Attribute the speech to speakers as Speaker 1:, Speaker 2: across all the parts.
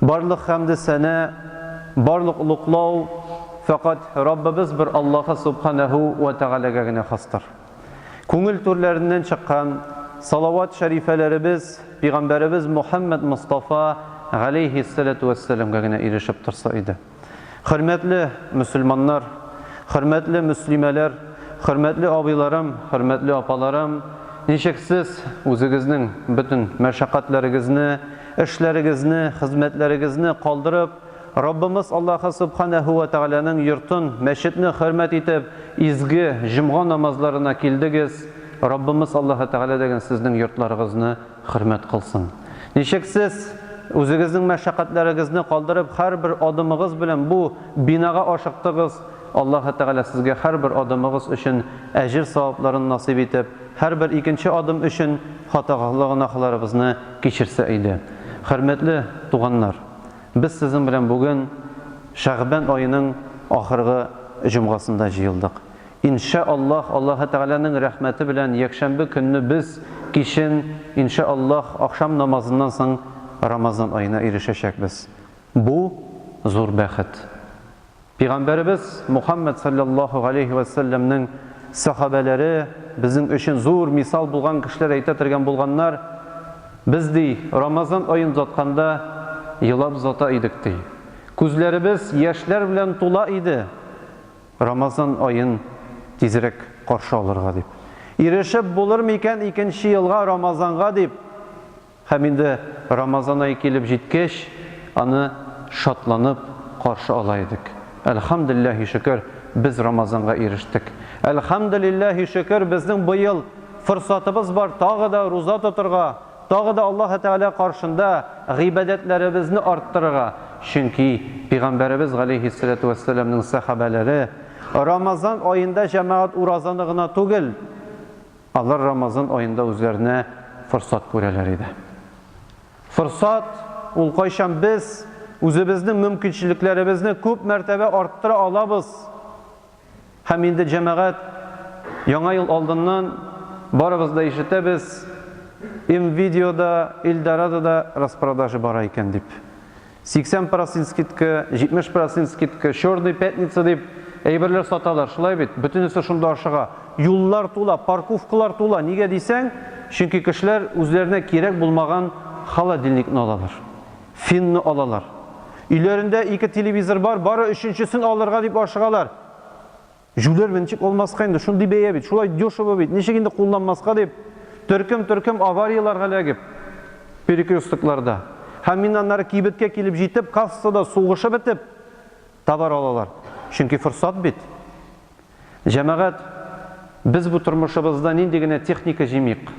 Speaker 1: Барлык хәмде сәнә, барлык олуглау фәкать Раббыбыз бер Аллаһы Субханәһү вә Тәгаләгә генә хастыр. Күңел түрләреннән чыккан салават шәрифәләребез Пигамбәребез Мухәммәд Мостафа галәйһиссәләтү вәссәламгә генә ирешеп торса иде. Хөрмәтле мөселманнар, хөрмәтле мөслимәләр, хөрмәтле абыйларым, хөрмәтле апаларым, ничек сез үзегезнең бөтен мәшәкатьләрегезне, эшләрегезне, хезмәтләрегезне калдырып, Раббымыз Аллаһы Субханәһү вә Тәгаләнең йортын, мәчетне хөрмәт итеп, изге җомга намазларына килдегез, Раббымыз Аллаһы Тәгалә дәген сезнең йортларыгызны Хөрмәт кылсын. Ничек сез, үзегезнең мәшәкатьләрегезне калдырып, һәрбер адымыгыз белән бу бинага ашыктыгыз, Аллаһы Тәгалә сезгә һәрбер адымыгыз өчен әҗер-савапларын насыйп итеп, һәрбер икенче адым өчен хатагагнахларыбызны кичерсә иде. Хөрмәтле туганнар, без сезнең белән бүген Шәгъбән аеның ахыргы җомгасында җыелдык. Ин шә Аллаһ, Аллаһы Тәгаләнең рәхмәте белән, якшәмбе көнне без кичен, ин шә Аллаһ, ахшам намазыннан соң Рамазан аена ирешәчәкбез. Бу, зур бәхет. Пигамбәребез Мухаммәд салләллаһу галәйһи вә сәлләмнең сәхабәләре, безнең өчен зур мисал булган кешеләр әйтә тергән булганнар, Без, ди, Рамазан аен озатканда, елап озата идек, ди. Күзләребез яшьләр белән тула иде. Рамазан аен тизрәк каршы алырга дип. Ирешеп булыр микән икенче елга Рамазанга дип. Һәм инде Рамазан ае килеп җиткәч, аны шатланып каршы ала идек. Әлхәмделләһи шөкер, без Рамазанга ирештек. Әлхәмделләһи шөкер, безнең быел форсатыбыз бар тагы да руза тотырга, Тагы да Аллаһы Тәгалә каршында гыйбадәтләребезне арттырырга, чөнки Пәйгамбәребез галәйһиссәләтү вәссәламнең сәхабәләре Рамазан аенда җәмәгать уразаны гына түгел, алар Рамазан аенда үзләренә форсат күрәләр иде. Форсат, ул кайчан без үзебезнең мөмкинчелекләребезне күп мәртәбә арттыра алабыз. Һәм инде, җәмәгать, Яңа ел алдыннан, барыбыз да ишетәбез, МВидео да, Эльдорадо да распродажа бара икән дип. 80 процент скидка, 70 процент скидка, Черная пятница дип әйберләр саталар, шулай бит? Бөтенесе шунда ашыга. Юллар тула, парковкалар тула. Нигә дисәң, чөнки кешеләр үзләренә кирәк булмаган холодильникны алалар. Финны алалар. Өйләрендә ике телевизор бар, бары өченчесен алырга дип ашыгалар. Җүләрмен, ничек алмаска инде, шундый бәя бит, шулай дешево бит, ничек инде кулланмаска дип, төркем-төркем аварияләргә эләгеп, перекрёстокларда, һәм мин аннары кибеткә килеп җитеп, кассада сугышып бетеп, Табар алалар. Чөнки форсат бит. Җәмәгать, без бу тормышыбызда нинди генә техника җимик,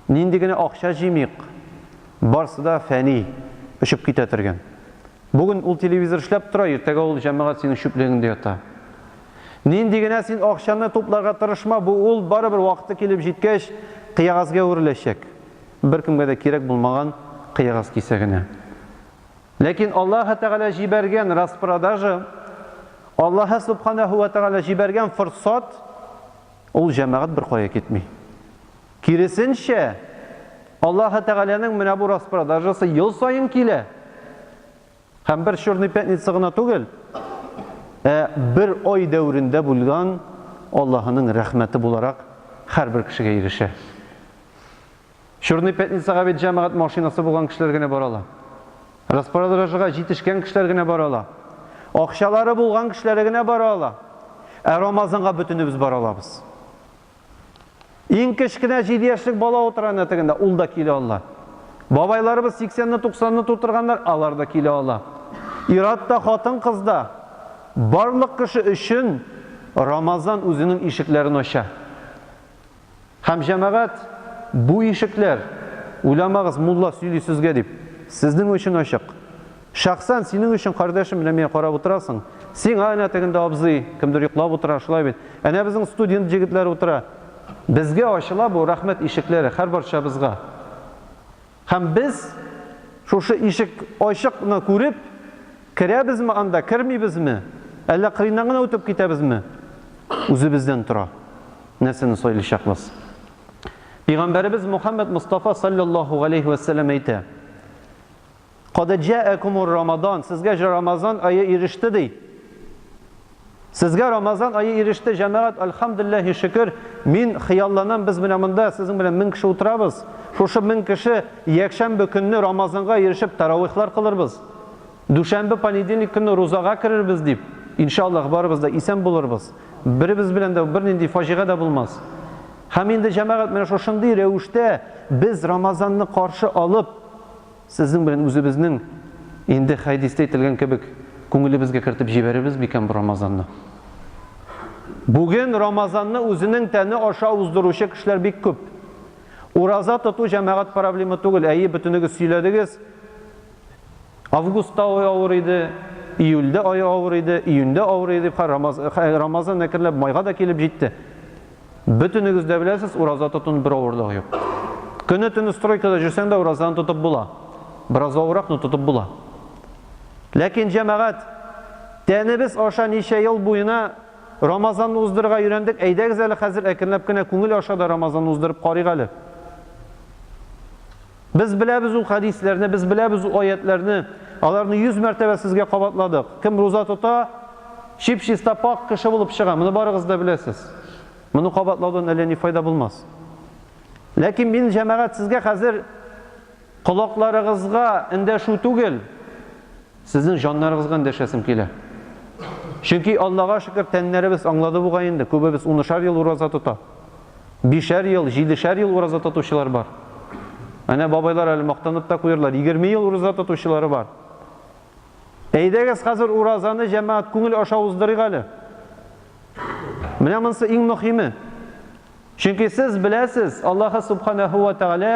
Speaker 1: нинди генә акча җимик, барсы да фәни, очып китә төргән. Бүген ул телевизор эшләп тора, иртәгә ул җәмәгать синең чүплегеңдә ята. Нинди генә син акчаны тупларга тырышма, бу ул барыбер вакыты килеп җиткәч кыягазгә әвереләчәк. Беркемгә дә кирәк булмаган кыягаз кисәгенә. Ләкин Аллаһы Тәгалә җибәргән распродажа, Аллаһы Субханаһу вә Тәгалә җибәргән форсат, ул җәмәгать беркая китми. Киресенчә, Аллаһы Тәгаләнең менә бу распродажасы ел саен килә. Һәм бер Черный пятница гына түгел, ә бер ай дәверендә булган Аллаһының рәхмәте буларак һәрбер кешегә ирешә. Чёрный пятницага бит җәмәгать машинасы булган кешеләр генә бара ала. Распродажага җитешкән кешеләр генә бара ала. Акчалары булган кешеләре генә бара ала. Ә Рамазанга бөтенебез бара алабыз. Иң кечкенә җиде яшьлек бала утыра әнә тегендә, ул да килә ала. Бабайларыбыз сиксәнне, туксанны тутырганнар, алар да килә ала. Ир-ат та, хатын-кыз да, барлык кеше өчен Рамазан үзенең ишекләрен ача. Һәм җәмәгать, Бу ишекләр, уйламагыз, мулла сөйли сезгә дип, сезнең өчен ачык. Шәхсән синең өчен, кардәшем, менә миңа карап утырасың. Сиңа әнә тегендә абзый, кемдер йоклап утыра, шулай бит? Әнә безнең студент җегетләр утыра. Безгә ачыла бу рәхмәт ишекләре, һәрбарчабызга. Һәм без, шушы ишек ачык ны күреп, керәбезме анда, кермибезме, әллә кырыйннан гына үтеп китәбезме, үзебездән тора, нәрсәне сайлыйчакбыз. Пигамбәребез Мухаммәд Мостафа салләллаһу галәйһи вә сәлләм әйтә, Кадәҗәәкумур Рамадан, сезгә Рамазан ае иреште, ди. Сезгә Рамазан ае иреште, җәмәгать, Әлхәмдүлилләһи шөкер, мин хыялланам, без менә монда сезнең белән мең кеше утырабыз, шушы мең кеше якшәмбе көнне Рамазанга ирешеп тәравыйхлар кылырбыз, дүшәмбе, понедельник көнне рузага керербез дип, иншааллаһ, барыбыз да исән булырбыз, беребез белән дә бернинди фаҗига дә булмас. Һәм инде, җәмәгать, менә шушындый рәвештә без Рамазанны каршы алып, Сезнең белән үзебезнең, инде хәдистә әйтелгән кебек, күңелебезгә кертеп җибәрербез микән бу Рамазанны? Бүген Рамазанны үзенең тәне аша уздыручы кешеләр бик күп. Ураза тоту җәмәгать проблема түгел, әйе, бөтенегез сөйләдегез, августта ай авыр иде, июльдә ай авыр иде, июньдә авыр иде, Рамазан әкренләп майга да килеп җитте. Бөтенегез дә беләсез, ураза тотуның бер авырлыгы юк. Көне-төне стройкада җөрсәң дә уразаны тотып була. Бераз авыррак, но тотып була. Ләкин, җәмәгать, тәнебез аша ничә ел буена Рамазанны уздырырга өйрәндек, әйдәгез әле хәзер әкренләп кенә күңел аша да Рамазанны уздырып карыйк әле. Без беләбез ул хәдисләрне, без беләбез ул аятьләрне. Аларны 100 мәртәбә сезгә кабатладык. Кем руза тота, чип-чиста пак кеше булып чыга. Моны барыгыз да беләсез. Моны кабатлаудан әллә ни файда булмас. Ләкин мин җәмәгать сезгә хәзер колакларыгызга эндәшү түгел, Сезнең җаннарыгызга эндәшәсем килә. Чөнки, Аллага шөкер, тәннәребез аңлады бугай инде, күбебез унышар ел ураза тота. Бишәр ел, җидешәр ел ураза тотучылар бар. Әнә бабайлар әле мактанып та куярлар, егерме ел ураза тотучылары бар. Әйдәгез, хәзер уразаны җәмәгать күңел аша уздырыйк әле. Менә монысы иң мөхиме. Чөнки сез беләсез, Аллаһы Субханәһү вә Тәгалә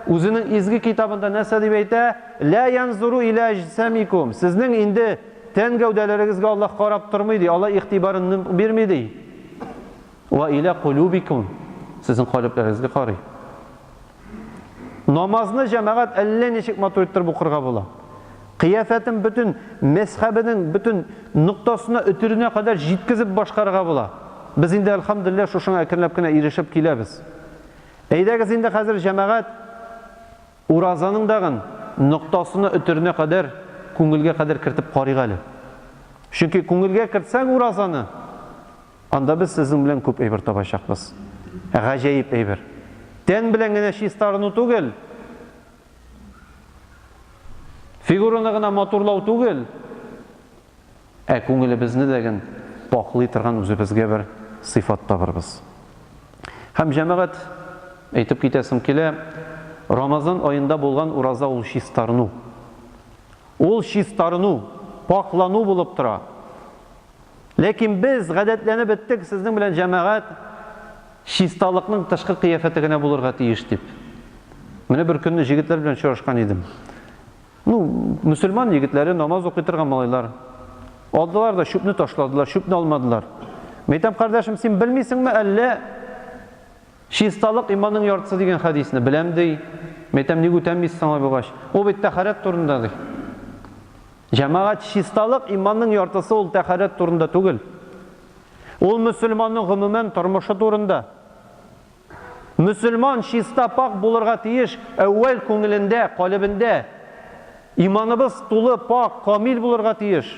Speaker 1: Үзенең изге Китабында нәрсә дип әйтә? Лә янзуру илә әҗсәмикум. Сезнең инде тән гәүдәләрегезгә Аллаһ карап тормый, ди, Аллаһ игътибарын нык бирми, ди. Вә илә кулубикум. Сезнең калебләрегезгә карый. Намазны җәмәгать әллә ничек матур иттереп укырга була. Кыяфәтен бөтен мәсхәбенең бөтен ноктасына, өтеренә кадәр җиткезеп башкарырга була. Без инде, әлхәмдүлилләһ, шушыңа әкренләп кенә ирешеп киләбез. Әйдәгез инде хәзер җәмәгать уразаның дагын ноктасына, өтеренә кадәр, күңелгә кадәр кертеп карыйк әле. Чөнки күңелгә кертсәң уразаны, Анда без сезнең белән күп әйбер табачакбыз. Гаҗәеп әйбер. Тән белән генә чиста арыну түгел, фигураны гына матурлау түгел, ә күңелебезне дә ген пакълый торган үзебезгә бер сыйфат табырбыз. Һәм, җәмәгать, әйтеп китәсем килә, Рамазан аенда булган ураза ул чистарыну. Ул чистарыну, пакълану булып тора. Ләкин без гадәтләнеп беттек, сезнең белән җәмәгать чисталыкның тышкы кыяфәте генә булырга тиеш дип. Менә бер көнне җегетләр белән очрашкан идем. Ну, мөселман егетләре, намаз укый торган малайлар. Алдылар да чүпне ташладылар, чүпне алмадылар. Мәйтәм, кардәшем, син белмисеңме әллә чисталык иманның яртысы дигән хәдисне? Беләм, ди. Мәйтәм, ник үтәмисез аңа булгач? Ул бит тәхарәт турында, ди. Җәмәгать чисталык иманның яртысы ул тәхарәт турында түгел. Ул мөселманның гомумән тормышы турында. Мөселман чиста пакь булырга тиеш әүвәл күңелендә, калебендә. Иманыбыз тулы пакь, камил булырга тиеш.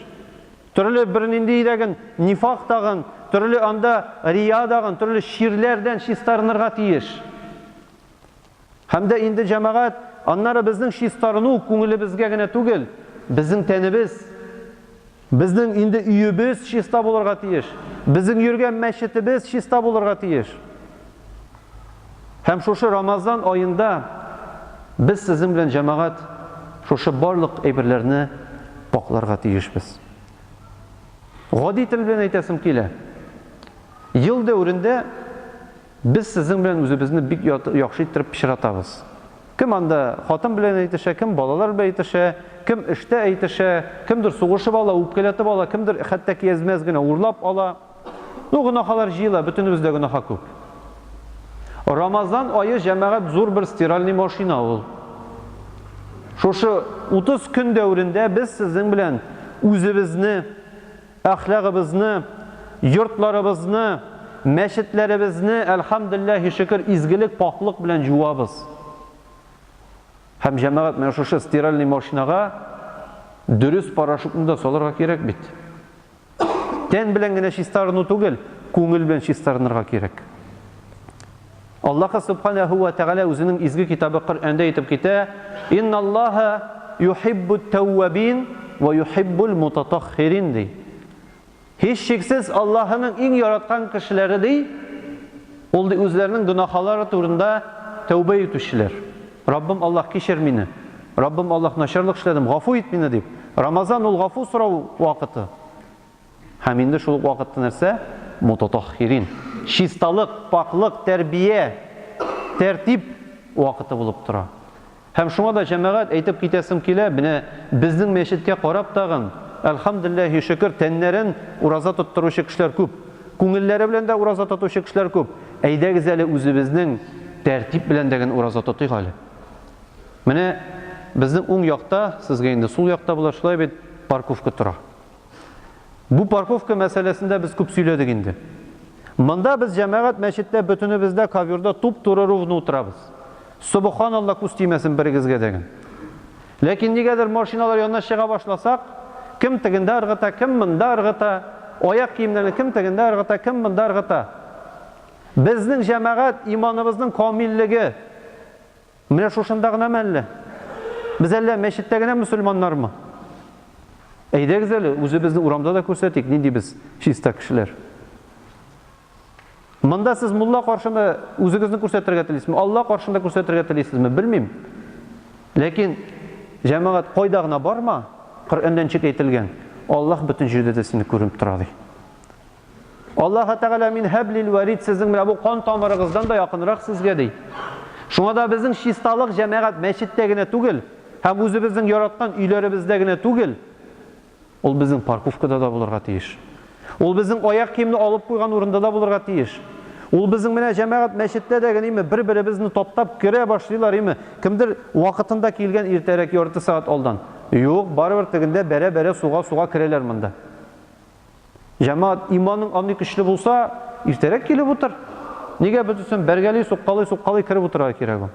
Speaker 1: Төрле бер нинди дәген нифак тагын, төрле анда рия дагын, төрле чирләрдән чистарынырга тиеш. Һәм дә инде, җәмәгать, аннары безнең чистарыну күңелебезгә генә түгел, безнең тәнебез, безнең инде өебез чиста булырга тиеш, безнең йөргән мәчетебез чиста булырга тиеш. Һәм шушы Рамазан аенда без сезнең белән, җәмәгать, шушы барлык әйберләрне пакъларга тиешбез. Гади тел белән әйтәсем килә, ел дәверендә, Без сезнең белән үзебезне бик яхшы иттереп пычратабыз. Кем анда хатын белән әйтешә, кем балалар белән әйтешә, кем эштә әйтешә, кемдер сугышып ала, үпкәләтеп ала, кемдер хәтта киязмәс генә урлап ала. Ну, гөнаһалар җыела, бөтенебез дә гөнаһа күп. Рамазан ае, җәмәгать, зур бер стиральный машина ул. Шушы 30 көн дәверендә без сезнең белән үзебезне Әхлагыбызны, йортларыбызны, мәчетләребезне, әлхәмдүлилләһи шөкер, изгелек, пакълык белән җуабыз. Һәм җәмәгать менә шушы стиральный машинага дөрес порошокны да салырга кирәк бит. Тән белән генә чистарыну түгел, күңел белән чистарынырга кирәк. Аллаһы Субханәһү вә Тәгалә Үзенең изге китабы Коръәндә әйтеп китә, Инналлаһа юһиббут-тәүвәбин вә юһиббул-мутатаһхирин, ди. Һичшиксез, Аллаһының иң яраткан кешеләре, ди, ул, ди, үзләренең гөнаһалары турында тәүбә итүчеләр. Раббым Аллаһ, кичер мине! Раббым Аллаһ, начарлык эшләдем, гафу ит мине! дип. Рамазан, ул гафу сорау вакыты. Һәм инде шул ук вакытта нәрсә? Мутатаһхирин. Чисталык, пакълык, тәрбия, тәртип вакыты булып тора. Һәм шуңа да, җәмәгать, әйтеп китәсем килә, менә безнең мәчеткә карап тагын, әлхәмдүлләһи шөкер, тәннәрен ураза тоттыручы кешеләр күп. Күңелләре белән дә ураза тотучы кешеләр күп. Әйдәгез әле үзебезнең тәртип белән дә генә ураза тотыйк әле. Менә безнең уң якта, сезгә инде сул якта була, шулай бит, парковка тора. Бу парковка мәсьәләсендә без күп сөйләдек инде. Монда без җәмәгать мәчеттә бөтенебез дә ковёрда туп-туры ровно утырабыз. Собоханалла күз тимәсен берегезгә дә генә. Ләкин нигәдер машиналар янына чыга башласак, кем тегендә ыргыта, кем монда ыргыта, аяк киемнәрне кем тегендә ыргыта, кем монда ыргыта. Безнең җәмәгать иманыбызның камиллеге, Менә шушында гынамы әллә? Без әллә мәчеттә генә мөселманнармы? Әйдәгез әле, үзебезне урамда да күрсәтик, нинди без чиста кешеләр. Монда сез мулла каршында үзегезне күрсәтергә телисезме? Алла каршында күрсәтергә телисезме? Белмим. Ләкин җәмәгать кайда гына барма, Коръәндән чик әйтелгән. Аллаһ бөтен җирдә дә сине күреп тора ди. Аллаһы Тәгалә мин һәблил вәрид сезнең белән бу кан тамырыгыздан да якынрак сезгә ди. Шуңа да безнең чисталык җәмәгать мәчеттә генә түгел, һәм үзебезнең яраткан өйләребездә генә түгел, ул безнең парковкада да булырга тиеш. Ул безнең аяк киемне алып куйган урында да булырга тиеш. Ул безнең менә җәмәгать мәчеттә дә генеме бер-беребезне таптап керә башлыйлар име, кемдер вакытында килгән иртәрәк ярты сәгать алдан. Юк, барыбер тегендә бәрә-бәрә суга-суга керәләр монда. Җәмәгать, иманың андый көчле булса, иртәрәк килеп утыр. Нигә без өчен бәргәли, суккалый, суккалый киреп утырырга кирәк ул?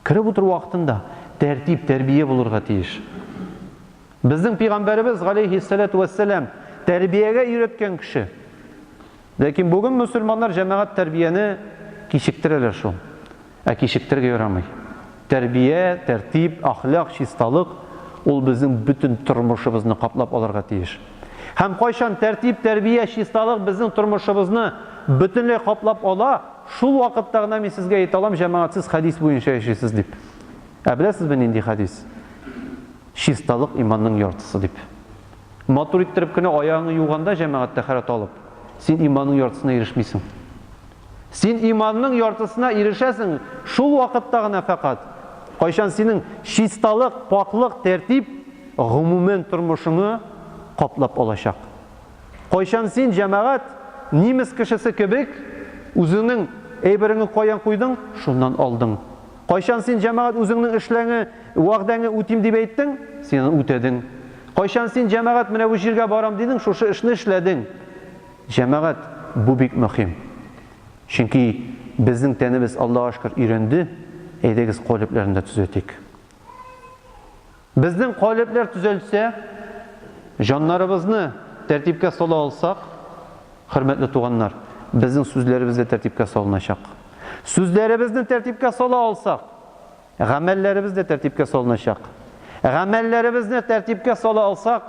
Speaker 1: Киреп утыру вакытында тәртип, тәрбия булырга тиеш. Безнең пәйгамбәребез галейһиссәләтү вәссәлам тәрбиягә өйрәткән кеше. Ләкин бүген мөселманнар җәмәгать тәрбияне кичектерәләр шул. Ә кичектерергә ярамый. Тәрбия, тәртип, әхлак, чисталык, ул безнең бөтен тормышыбызны каплап алырга тиеш. Һәм кайчан тәртип, тәрбия, чисталык безнең тормышыбызны бөтенләй каплап ала, шул вакытта гына мин сезгә әйтә алам, җәмәгать сез хәдис буенча яшисез дип. Ә беләсезме нинди хәдис? Чисталык иманның яртысы дип. Матур иттереп кенә аягыңны юганда җәмәгать тәһарәт алып, син иманның яртысына ирешмисең. Син иманның яртысына ирешәсең шул вакытта гына фәкать, кайчан синең чисталык, пакълык, тәртип гомумән тормышыңы каплап алачак. Кайчан син җәмәгать нимес кешесе кебек үзеңнең әйбереңне каян куйдың, шуннан алдың. Кайчан син, җәмәгать, үзеңнең эшләңе, вәгъдәңе үтим дип әйттең? Син аны үтәдең. Кайчан син, җәмәгать, менә бу җиргә барам дидең, шушы эшне эшләдең? Җәмәгать, бу бик мөһим. Чөнки безнең тәнебез, Аллага шөкер, өйрәнде. Әйдәгез, калебләрне дә төзәтик. Безнең калебләр төзәлсә, җаннарыбызны тәртипкә сала алсак, хөрмәтле туганнар, безнең сүзләребез дә тәртипкә салыначак. Сүзләребезне тәртипкә сала алсак, гамәлләребез дә тәртипкә салыначак. Гамәлләребезне тәртипкә сала алсак,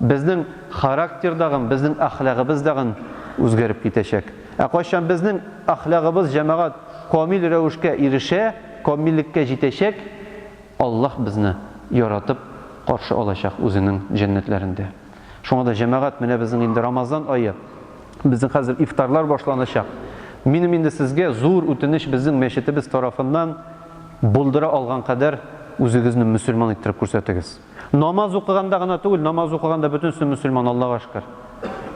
Speaker 1: безнең характер дагын, безнең әхлагыбыз дагын үзгәреп китәчәк. Ә кайчан безнең әхлагыбыз, җәмәгать, камил рәвешкә ирешә, камиллеккә җитәчәк, Аллаһ безне яратып каршы алачак Үзенең җәннәтләрендә. Шуңа да, җәмәгать, менә безнең инде Рамазан ае, безнең хәзер ифтарлар башланачак. Минем инде сезгә зур үтенеч, безнең мәчетебез тарафыннан булдыра алган кадәр үзегезне мөселман иттереп күрсәтегез. Намаз укыганда гына түгел, намаз укыганда бөтенесе мөселман, Аллага шөкер.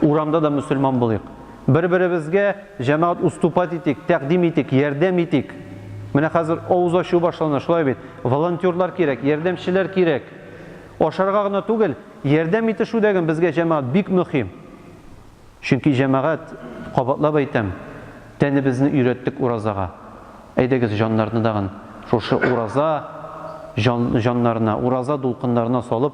Speaker 1: Урамда да мөселман булыйк. Бер-беребезгә, җәмәгать, уступать итик, тәкъдим итик, ярдәм итик. Менә хәзер авыз ачу башлана, шулай бит. Волонтерлар кирәк, ярдәмчеләр кирәк. Ашарга гына түгел, ярдәм итешү дә безгә, җәмәгать, бик мөһим. Чөнки, җәмәгать, кабатлап әйтәм, тәнебезне өйрәттек уразага. Әйдәгез, җаннарны тагын шушы ураза җан, җаннарына, ураза дулкыннарына салып,